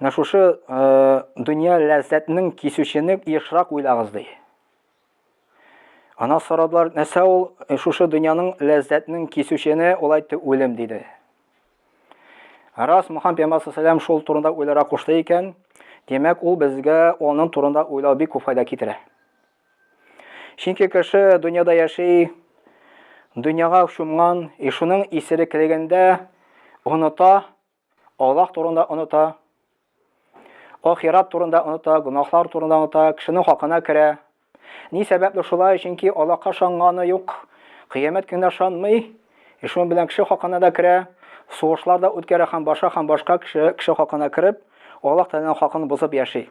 Менә шушы дөнья ләззәтнең кисүчене ешрак уйлагыз ди. Ана сорадылар, нәрсә ул шушы дөньяның ләззәтнең кисүчене ул әйтте үлем диде. Рас Мухаммед пәйгамбәр саллаллаху шул турында уйларга кушты икән, димәк, ул безгә аның турында уйлау бик күп файда китерә. Чөнки кеше дөньяда яши, дөньяга чумган, и шуның исереклегендә оныта, Аллаһ турында оныта, ахират турында оныта, гөнаһлар турында оныта, кешенең хакына керә. Ни сәбәпле шулай? Чөнки Аллаһка шанганы юк, кыямәт көненә шанмый, и шуның белән кеше хакына да керә, сугышлар да үткәрә һәм баша һәм башка кеше кеше хакына кереп, Аллаһ Тәгаләнең хакын бозып яши.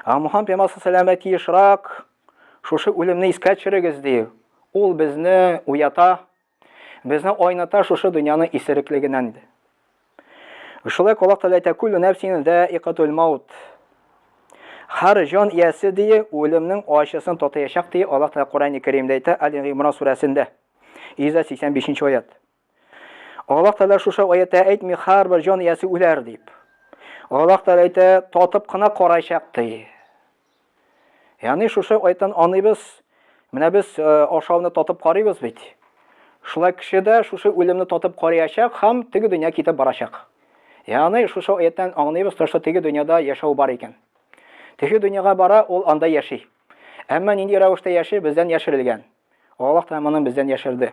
Ә Мухаммад пәйгамбәр саллаллаһу тиешрак шушы үлемне искә төшерегез ди. Ул безне уята, Безне айната шушы дөньяны исереклегеннән иде. Шулай колак таләйтә күл нәфсине дә икатул маут. Хар җан иясе дие үлемнең ачысын татыячак дие Аллаһ Тәгалә Коръәни Кәримдә әйтә Аль-Гимран сүрәсендә 185 аят. Аллаһ Тәгалә шушы аятта әйтми хар бер җан иясе үләр дип. Аллаһ Тәгалә әйтә татып кына карачак дие. Яни шушы айтан аныйбыз, менә без ашауны татып карыйбыз бит. Шулай кеше дә шушы үлемне татып карыячак һәм теге дөнья китеп барачак. Яни шушы аяттан аңлыйбыз, что теге дөньяда яшәү бар икән. Теге дөньяга бара, ул анда яши. Әмма нинди рәвештә яши, бездән яшерелгән. Аллаһ та моны бездән яшерде.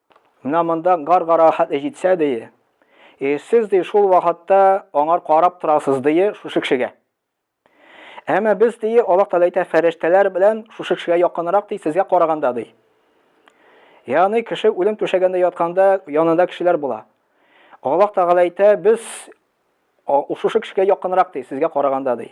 Менә монда гар-гара хәтле җитсә, дие, и сез, ди, шул вакытта аңар карап торасыз, дие, шушы кешегә. Әмма без, дие, Аллаһ Тәгалә әйтә, фәрештәләр белән шушы кешегә якынрак, ди, сезгә караганда, ди. Ягъни кеше үлем түшәгендә ятканда янында кешеләр була. Аллаһ Тәгалә әйтә, без шушы кешегә якынрак, ди, сезгә караганда, ди.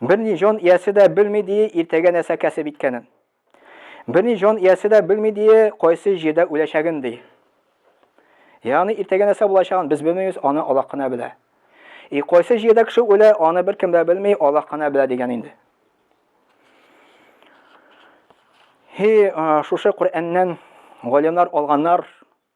Берни җан иясе дә белми дие иртәгә нәрсә кәсеп иткәнен. Берни җан иясе дә белми дие кайсы җирдә үләчәген ди. Ягъни иртәгә нәрсә булачагын без белмибез, аны Аллаһ кына белә. И кайсы җирдә кеше үлә, аны беркем дә белми, Аллаһ кына белә дигән инде. Һи, шушы Коръәннән галимнар алганнар,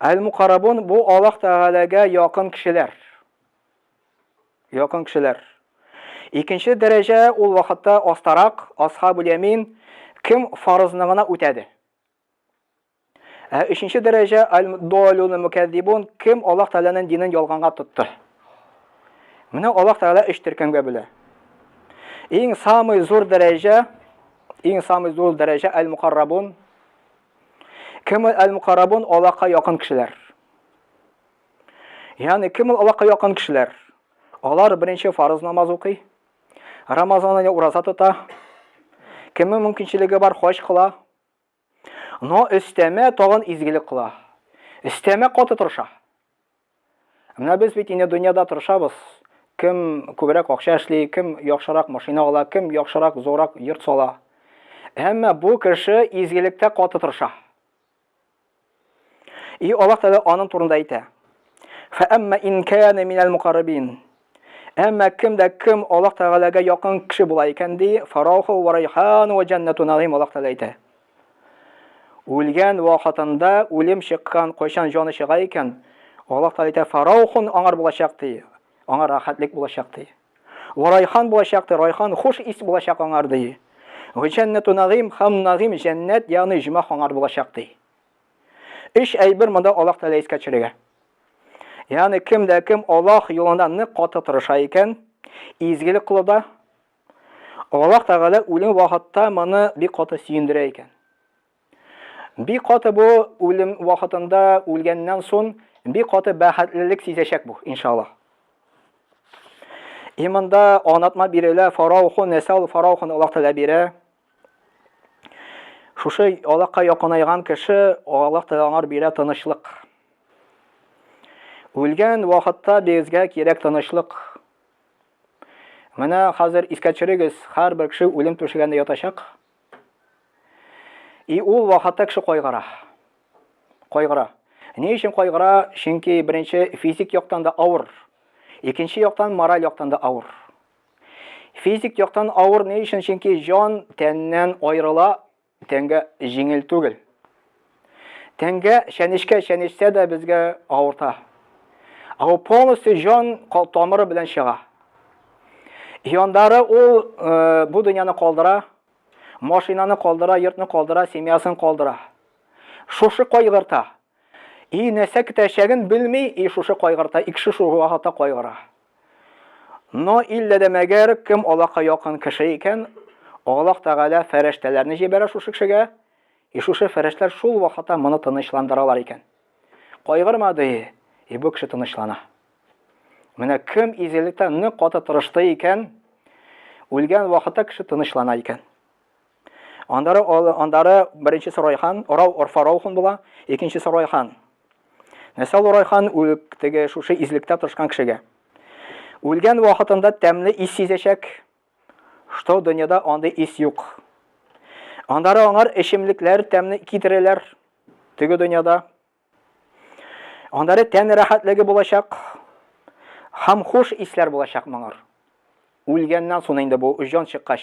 Әл-Мукарабун, бу Аллаһ Тәгаләгә якын кешеләр. Якын кешеләр. Икенче дәрәҗә ул вакытта астарак, Асхабул Ямин, кем фарызны гына үтәде. Ә өченче дәрәҗә Аль-Долюн Мукәддибун, кем Аллаһ Тәгаләнең динен ялганга тотты. Менә Аллаһ Тәгалә өч төркемгә бүлә. Иң самый зур дәрәҗә, иң самый зур дәрәҗә Әл-Мукарабун, Кем ул әл-мукарабун? Аллаһка якын кешеләр. Ягъни кем ул Аллаһка якын кешеләр? Алар беренче фарыз намаз укый, Рамазан ае ураза тота, кемнең мөмкинчелеге бар, хаҗ кыла. Но өстәмә тагын изгелек кыла. Өстәмә каты тырыша. Менә без бит инде дөньяда тырышабыз. Кем күбрәк акча эшли, кем яхшырак машина ала, кем яхшырак, зуррак йорт сала. Әмма бу кеше изгелектә каты тырыша. И Аллаһ Тәгалә аның турында әйтә. Фәәмма ин кана минәл мукаррабин. Әмма кем дә кем Аллаһ Тәгаләгә якын кеше була икән, ди, фарауху ва райхан ва җәннәту нагыйм Аллаһ Тәгалә әйтә. Үлгән вакытында үлем чыккан, кайчан җаны чыга икән, Аллаһ Тәгалә әйтә, фараухун аңар булачак, ди, аңа рәхәтлек булачак, ди. Ва райхан булачак, ди, райхан хуш ис булачак аңар, ди. Ва җәннәту нагыйм һәм нагыйм җәннәт, ягъни җимах аңар булачак, ди. Өч әйбер монда Аллаһ Тәгалә искә төшерергә. Ягъни кем дә кем Аллаһ юлында нык каты тырыша икән, изгелек кылуда, Аллаһ Тәгалә үлем вакытта моны бик каты сөендерә икән. Бик каты бу үлем вакытында үлгәннән соң бик каты бәхетлелек сизәчәк бу, иншаллаһ. И монда анатма бирелә, фараухун, нәсәл фараухун Аллаһ Тәгалә бирә. Шушы Аллаһка якынайган кеше, Аллаһ Тәгалә аңар бирә тынычлык. Үлгән вакытта безгә кирәк тынычлык. Менә хәзер искә төшерегез, һәрбер кеше үлем түшәгендә ятачак. И ул вакытта кеше кайгыра. Кайгыра. Ни өчен кайгыра? Чөнки беренче физик яктан да авыр. Икенче яктан мораль яктан да авыр. Физик яктан авыр ни өчен? Чөнки җан тәннән аерыла, тәнгә җиңел түгел. Тәнгә чәнечкә чәнечсә дә безгә авырта. Ә ул полностью җан тамыры белән чыга. Яндары ул э, бу дөньяны калдыра, машинаны калдыра, йортны калдыра, семьясын калдыра. Шушы кайгырта. И нәрсә көтәчәген белми, и шушы кайгырта, и кеше шуга карата кайгыра. Но иллә дә мәгәр кем Аллаһка якын кеше икән, Аллаһ Тәгалә фәрештәләрне җибәрә шушы кешегә, и шушы фәрештәләр шул вакытта моны тынычландыралар икән. Кайгырма, ди, и бу кеше тынычлана. Менә кем изгелектә нык каты тырышты икән, үлгән вакытта кеше тынычлана икән. Аннары аннары беренче Сорайхан, Орау Орфаролхун була, икенче Сорайхан. Нәрсә ул Орайхан үлек теге шушы излектә тырышкан кешегә. Үлгән вакытында тәмле ис сизәчәк, что дөньяда андый ис юк. Аннары аңар эчемлекләр тәмле китерәләр теге дөньяда. Аннары тән рәхәтлеге булачак, һәм хуш исләр булачак моңар. Үлгәннән соң инде бу җан чыккач,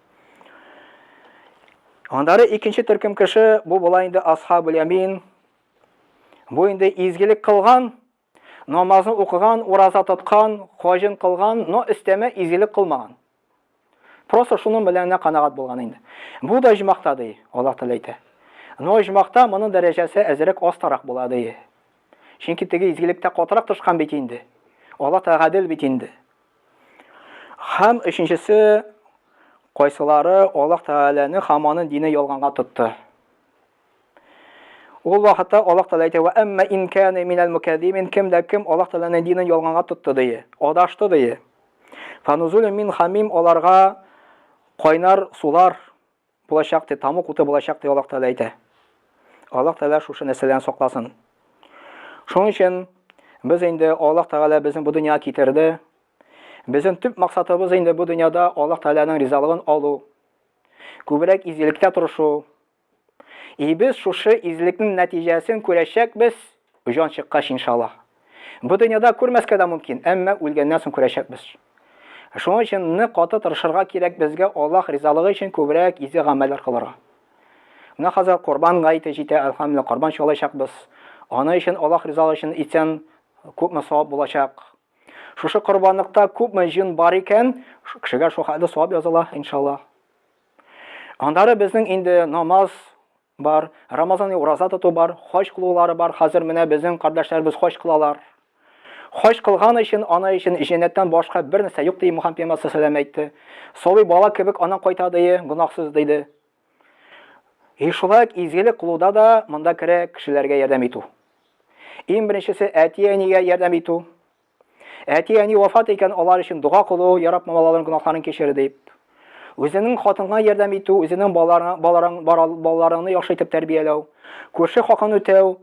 Аннары икенче төркем кеше, бу була инде Асхабул Ямин. Бу инде изгелек кылган, намазын укыган, ураза тоткан, хаҗын кылган, но өстәмә изгелек кылмаган. Просто шуның белән генә канагат булган инде. Бу да җмахта ди, Аллаһ Тәгалә әйтә. Но җмахта моның дәрәҗәсе әзрәк астарак була ди. Чөнки теге изгелектә катырак тышкан бит инде. Аллаһ Тәгалә гадел бит инде. Һәм өченчесе, кайсылары Аллаһ Тәгаләне һәм аның дине ялганга тотты. Ул вакытта Аллаһ Тәгалә әйтә, "Ва әмма ин кана минал мукаддимин", кем дә кем Аллаһ Тәгаләнең динен ялганга тотты дие, адашты дие. Фанузулю мин хамим аларга кайнар сулар булачак, ди, тамук уты булачак, ди, Аллаһ Тәгалә әйтә. Аллаһ Тәгалә шушы нәрсәдән сакласын. Шуның өчен без инде Аллаһ Тәгалә безне бу дөньяга китерде. Безнең төп максатыбыз инде бу дөньяда Аллаһ Тәгаләнең ризалыгын алу, күбрәк изгелеккә тырышу. И без шушы изгелекнең нәтиҗәсен күрәчәкбез. Җан чыккач, иншаллаһ. Бу дөньяда күрмәскә дә мөмкин, әмма үлгәннән соң күрәчәкбез. Шуның өчен нык каты тырышырга кирәк безгә Аллаһ ризалыгы өчен күбрәк изге гамәлләр кылырга. Менә хәзер Корбан гаете җитә, әлхәмдүлиллаһ, корбан чалачакбыз. Аны өчен Аллаһ ризалыгы өчен итсәң, күпме савап булачак. Шушы корбанлыкта күпме җн бар икән, шул кешегә шул хәтле савап языла, иншаллаһ. Аннары безнең инде намаз, Бар, Рамазани ураза тоту бар, хаҗ кылулары бар, хәзер менә безнең кардәшләребез хаҗ кылалар. Хаҗ кылган өчен, аны өчен җәннәттән башка бер нәрсә юк, ди Мухаммед пәйгамбәр сәләм әйтте. Сабый бала кебек анан кайта ди, гөнаһсыз диде. И шулай ук изгелек кылуда да монда керә кешеләргә ярдәм итү. Иң беренчесе әти-әнигә ярдәм итү. Әти-әни вафат икән, алар өчен дога кылу, ярап мамалаларның гөнаһларын кичер дип. Үзенең хатынга ярдәм итү, үзенең балаларыңны яхшы итеп тәрбияләү, күрше хакын үтәү,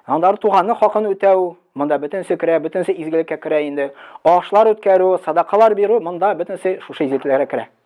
аннары туганны хакын үтәү, монда бөтенесе керә, бөтенесе изгелеккә керә инде. Ашлар үткәрү, садакалар бирү, монда бөтенесе шушы изгелекләргә керә.